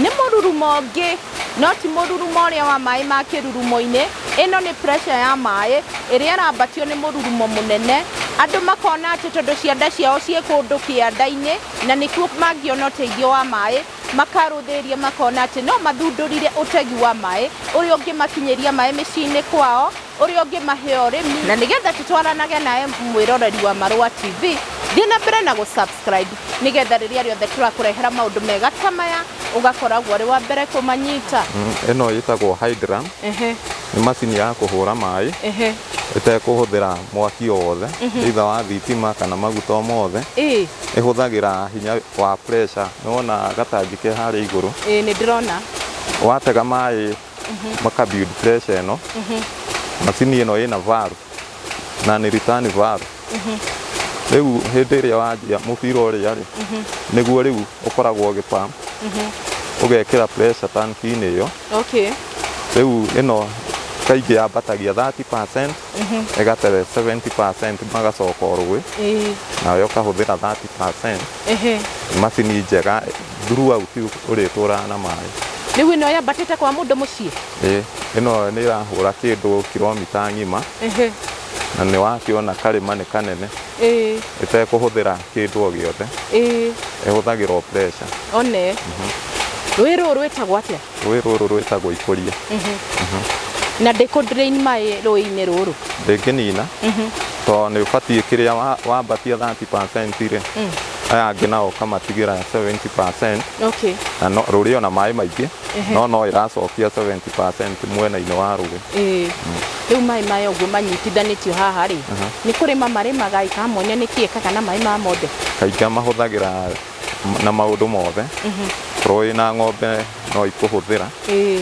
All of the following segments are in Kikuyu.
Nĩ mũrurumo ũngĩ no ti mũrurumo ũrĩa wa maĩ ma kĩrurumo-inĩ, ĩno nĩ pressure ya maĩ ĩrĩa ĩrambatio nĩ mũrurumo mũnene, andũ makona atĩ tondũ cianda ciao ciĩ kũndũ kĩanda-inĩ na nĩkuo mangĩona ũteithio wa maĩ, makarũthĩrĩria makona atĩ no mathundũrire ũtegi wa maĩ ũrĩa ũngĩmakinyĩria maĩ mĩciĩ-inĩ kwao. ũrĩa ũngĩmahe ũrĩmi na nĩgetha tũtwaranage nawe mwĩroreri wa Marũa TV thiĩ na mbere na gũsubscribe nĩgetha rĩrĩa rĩothe tũrakũrehera maũndũ mega ta maya ũgakoragwo ũrĩ wa mbere kũmanyita Mm, ĩno ĩtagwo hydra Ehe, nĩ macini ya kũhũra maĩ ehe, ĩtekũhũthĩra mwaki o wothe either wa thitima kana maguta o mothe ĩĩ, ĩhũthagĩra hinya wa pressure nĩ wona gatangi ke harĩa igũrũ ĩĩ, nĩ ndĩrona watega maĩ maka build pressure ĩno macini ĩno ĩna varu na nĩ return varu rĩu hĩndĩ ĩrĩa wanjia mũbira ũrĩa rĩ nĩguo rĩu ũkoragwo ũgĩ pump ũgekĩra pressure tanki-inĩ ĩyo Okay. rĩu ĩno kaingĩ yambatagia 30% ĩgatebe 70% magacoka orũĩ Ĩĩ. nayo ĩkahũthĩra 30% Ehe. macini njega throughout ũrĩa ĩtũraga na maĩ. Rĩu ĩno yambatĩte kwa mũndũ mũciĩ? Ĩĩ, ĩno nĩ ĩrahũra kĩndũ kiromita ng'ima na nĩ wakĩona karĩma nĩ kanene ĩtekũhũthĩra kĩndũ o gĩothe, ĩhũthagĩra o pressure. One. Mhm. Rũĩ rũrũ rwĩtagwo atĩa? Rũĩ rũrũ rwĩtagwo Ikũria. Na ndĩkũ drain maĩ rũĩ-inĩ rũrũ? Ndĩngĩnina tondũ nĩ ũbatiĩ kĩrĩa wa- wambatia 30% rĩ aya angĩ nao ũkamatigĩra 70% Okay. na no- rũrĩ ona maĩ maingĩ no no ĩracokia 70% mwena-inĩ wa rũĩ. Ĩĩ. Rĩu maĩ maya ũguo manyitithanĩtio haha rĩ, nĩ kũrĩma marĩmaga ĩkamonia nĩkĩ ĩkaga na maĩ maya mothe? Kaingĩ mahũthagĩra na maũndũ mothe korwo wĩ na ng'ombe no ikũhũthĩra Ĩĩ,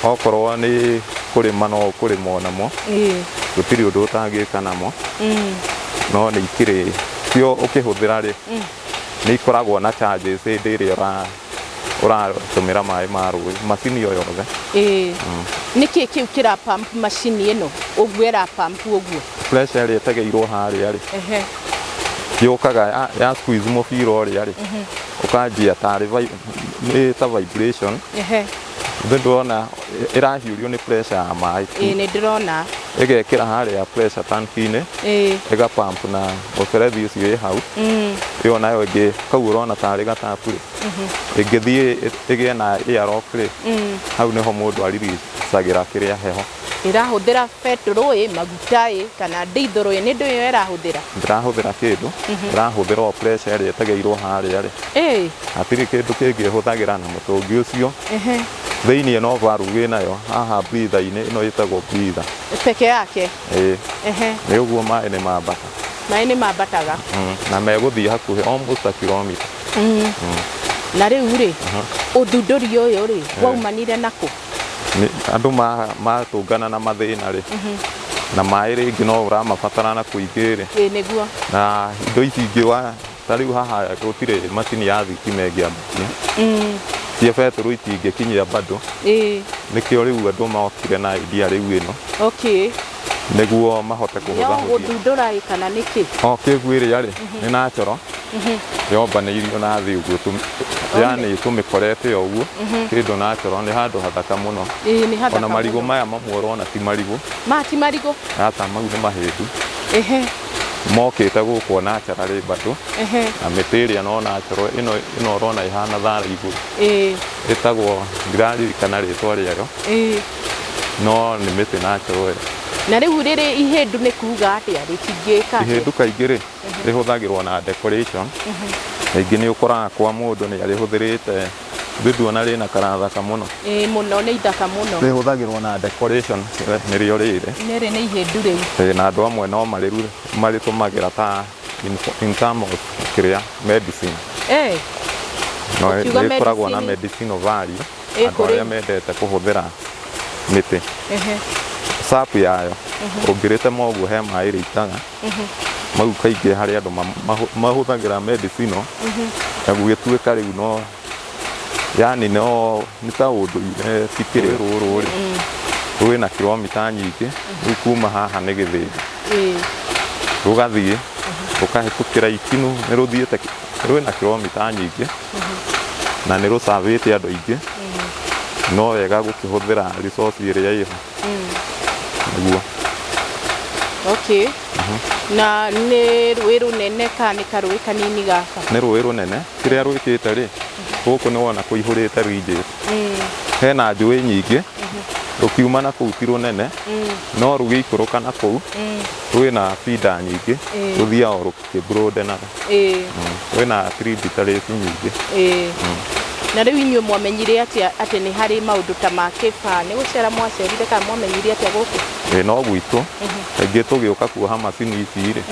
okorwo nĩ kũrĩma no ũkũrĩma o namo ĩĩ. gũtirĩ ũndũ ũtangĩka namo Mm, no nĩ ikĩrĩ cio ũkĩhũthĩra rĩ nĩ ikoragwo na charges hĩndĩ ĩrĩa ũra- ũratũmĩra maĩ ma rũĩ macini o yothe Ĩĩ. Nĩkĩ kĩu kĩra pump macini ĩno? Ũguo ĩra pump ũguo? pressure ĩrĩa ĩtegeirwo harĩa rĩ Ehe. yũkaga ya, ya squeeze mũbira ũrĩa rĩ ũkanjia tarĩ vi- nĩ ta vibration Ehe. nĩ ndĩrona ĩrahiũrio nĩ pressure ya maĩ Ĩĩ nĩ ndĩrona. ĩgekĩra harĩa pressure tanki-inĩ Ĩĩ. ĩga pump na mũberethi ũcio wĩ hau Mm. ĩyo nayo ĩngĩ kau ũrona tarĩ gatabu rĩ ĩngĩthiĩ ĩ- ĩgĩe na air lock rĩ Mm. hau nĩho mũndũ aririsagĩra kĩrĩa heho ĩrahũthĩra betũrũ ĩ maguta ĩ kana ndithũrũ ĩ nĩ ndũ ĩyo ĩrahũthĩra ndĩrahũthĩra kĩndũ ndĩrahũthĩra o pressure ĩrĩa ĩtegĩirwo harĩa rĩ ĩ hatirĩ kĩndũ kĩngĩ ĩhũthagĩra na mũtũngi ũcio ehe thĩinĩ no valve ĩnayo haha breather-inĩ ĩno ĩtagwo breather peke yake ĩĩ ehe nĩ ũguo maĩ nĩ mambata maĩ nĩ mambataga Mm, na megũthiĩ hakuhĩ almost a kilometer na rĩu rĩ ũthundũri ũyũ rĩ waumanire nakũ andũ matũngana na mathĩna rĩ na maĩ rĩngĩ no ũramabatara na kũingĩ rĩ ĩĩ nĩguo na indo ici ingĩ wa ta rĩu haha gũtirĩ macini ya thitima ĩngĩambatia cia betũrũ itingĩkinyia bado ĩĩ nĩkĩo rĩu andũ mokire na idea rĩu ĩno okay nĩguo mahote Yo kũhũthahũthia gũthundũra ĩ kana nĩkĩ? o kĩgu ĩrĩa rĩ nĩ na coro yombanĩirio na thĩ ũguo tũ- yani tũmĩkorete o ũguo kĩndũ na coro nĩ handũ hathaka mũno Ĩĩ nĩ hathaka ona marigũ mũno. maya mamwe ũrona ti marigũ Ma ti marigũ. ata mau nĩ mahĩndu Ehe, mokĩte gũkwo na cara rĩ mbatũ ehe, na mĩtĩ ĩrĩa no na coro ĩno ĩno ũrona ĩhana thara igũrũ ĩĩ, ĩtagwo ndiraririkana rĩtwa rĩayo ĩĩ. no nĩ mĩtĩ na njoe. Na rĩu rĩrĩ ihĩndũ nĩ kuga atĩa rĩ cingĩka atĩa? Ihĩndũ kaingĩ rĩ rĩhũthagĩrwo na decoration, rĩngĩ nĩ ũkoraga kwa mũndũ nĩ arĩhũthĩrĩte ndithu ona rĩna kara thaka mũno. Ĩĩ mũno nĩ ithaka mũno. Rĩhũthagĩrwo na decoration nĩrĩo rĩrĩ. Rĩrĩ nĩ ihĩndũ rĩu. Ĩĩ na andũ amwe no marĩruge marĩtũmagĩra ta in in term of kĩrĩa medicine. Ĩĩ. No Ũkiuga rĩkoragwo na medicine. medicinal value. Ĩ andũ kũrĩ. arĩa mendete kũhũthĩra mĩtĩ Ehe. sap yayo ũngĩrĩtema ũguo he maĩ rĩitaga mau kaingĩ harĩ andũ ma- mahũ- mahũthagĩra medicinal na gũgĩtuĩka rĩu no yani no nĩ ta ũndũire tikĩrĩ rũrũ rĩ rwĩna kilomita nyingĩ rĩu kuma haha nĩ gĩthĩnja Ĩ. rũgathiĩ rũkahĩtũkĩra ikinũ nĩ rũthiĩte rwĩna kilomita nyingĩ na nĩ rũsavĩte andũ aingĩ no wega gũkĩhũthĩra resource ĩrĩa ĩho nĩguo okay na nĩ rũĩ rũnene ka nĩ karũĩ kanini gaka nĩ rũĩ rũnene kĩrĩa rwĩkĩte rĩ gũkũ nĩ wona kũihũrĩte rinjĩ hena njũĩ nyingĩ rũkiuma na kũu ti rũnene no rũgĩikũrũka na kũu rwĩna bida nyingĩ rũthiaga o rũkĩ Ĩ bro ndenaga. Ĩĩ, Wĩ na three bitarĩti nyingĩ. ĩĩ. Na rĩu inyuĩ mwamenyire atĩa atĩ nĩ harĩ maũndũ ta ma kĩbaa? Nĩ gũcera mwacerire kana mwamenyire atĩa gũkũ? Ĩ no gwitũ. Kaingĩ tũgĩũka kuoha macini ici rĩ,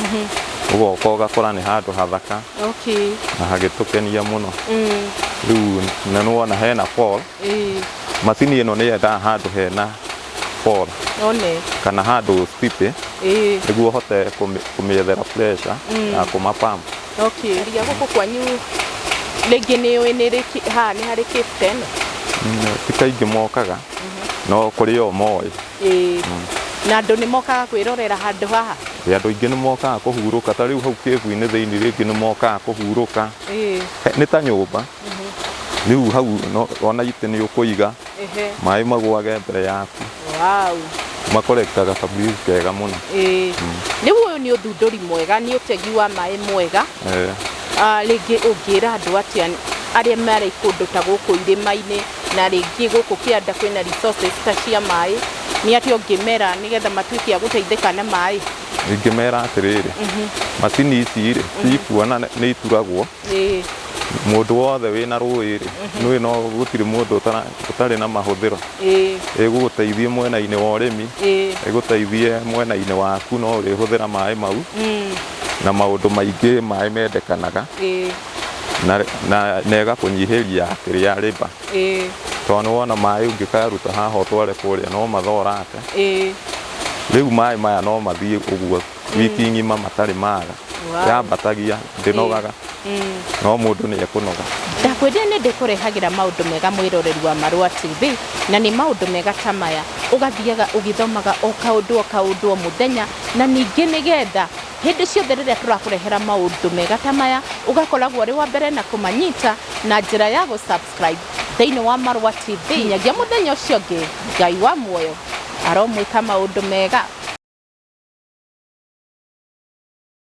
ũgoka ũgakora nĩ handũ hathaka Okay. na hagĩtũkenia mũno. Mm. Rĩu na nĩ wona hena pool. Ĩĩ. Macini ĩno nĩ yendaga handũ hena Paul one kana handũ steep ĩĩ nĩguo hote kũmĩ- kũmĩethera pressure ya kũma pump okay ria gũkũ kwanyu rĩngĩ nĩ ũĩ nĩ rĩki ha nĩ harĩ cave ta ĩno Mm, ti kaingĩ mokaga no kũrĩ o moĩ ĩĩ na andũ nĩ mokaga kwĩrorera handũ haha Ĩ, andũ aingĩ nĩ mokaga kũhurũka ta rĩu hau kĩbu-inĩ thĩinĩ rĩngĩ nĩ mokaga kũhurũka ĩĩ He- nĩ ta nyũmba rĩu hau no- wona itĩ nĩ ũkũiga Ehe. maĩ magwage mbere yaku Wow. makorektaga kabriz kega mũno Ĩĩ. Rĩu ũyũ nĩ ũthundũri mwega, nĩ ũtegi wa maĩ mwega. Eh, Ah, Rĩngĩ ũngĩra andũ atĩa arĩa marĩ kũndũ ta gũkũ irĩma-inĩ na rĩngĩ gũkũ kĩanda kwĩna resources ta cia maĩ, nĩ atĩa ũngĩmera nĩgetha matuĩke a gũteithĩka na maĩ? ingĩmera atĩrĩrĩ macini ici rĩ cikuona nĩ ituragwo Ĩĩ. Mũndũ wothe wĩ na rũĩ-rĩ, nĩũĩ no gũtirĩ mũndũ ũtara, ũtarĩ na mahũthĩro. Ĩĩ. Ĩgũgũteithie mwena-inĩ wa ũrĩmi, Ĩĩ. ĩgũteithie mwena-inĩ waku no ũrĩhũthĩra maĩ mau, na maũndũ maingĩ maĩ mendekanaga, Ĩĩ. na, na, na ĩgakũnyihĩria kĩrĩa labour. Ĩĩ. Tondũ nĩwona maĩ ũngĩkaruta haha ũtware kũrĩa no mathorate. Ĩĩ. Rĩu maĩ maya no mathiĩ ũguo. wiki ng'ima matarĩ mara Wow. yambatagia ndĩnogaga Eh. no mũndũ nĩ ekũnoga ndakwĩrire nĩ ndĩkũrehagĩra maũndũ mega mwĩroreri wa marũa tv na nĩ maũndũ mega ta maya ũgathiaga ũgĩthomaga o kaũndũ o kaũndũ o mũthenya na ningĩ nĩ getha hĩndĩ ciothe rĩrĩa tũrakũrehera maũndũ mega ta maya ũgakoragwo ũrĩ wa mbere na kũmanyita na njĩra ya gũ Ngai thĩinĩ wa Marũa TV. Nginyagia mũthenya ũcio ũngĩ, Ngai wa muoyo aromwĩka maũndũ mega.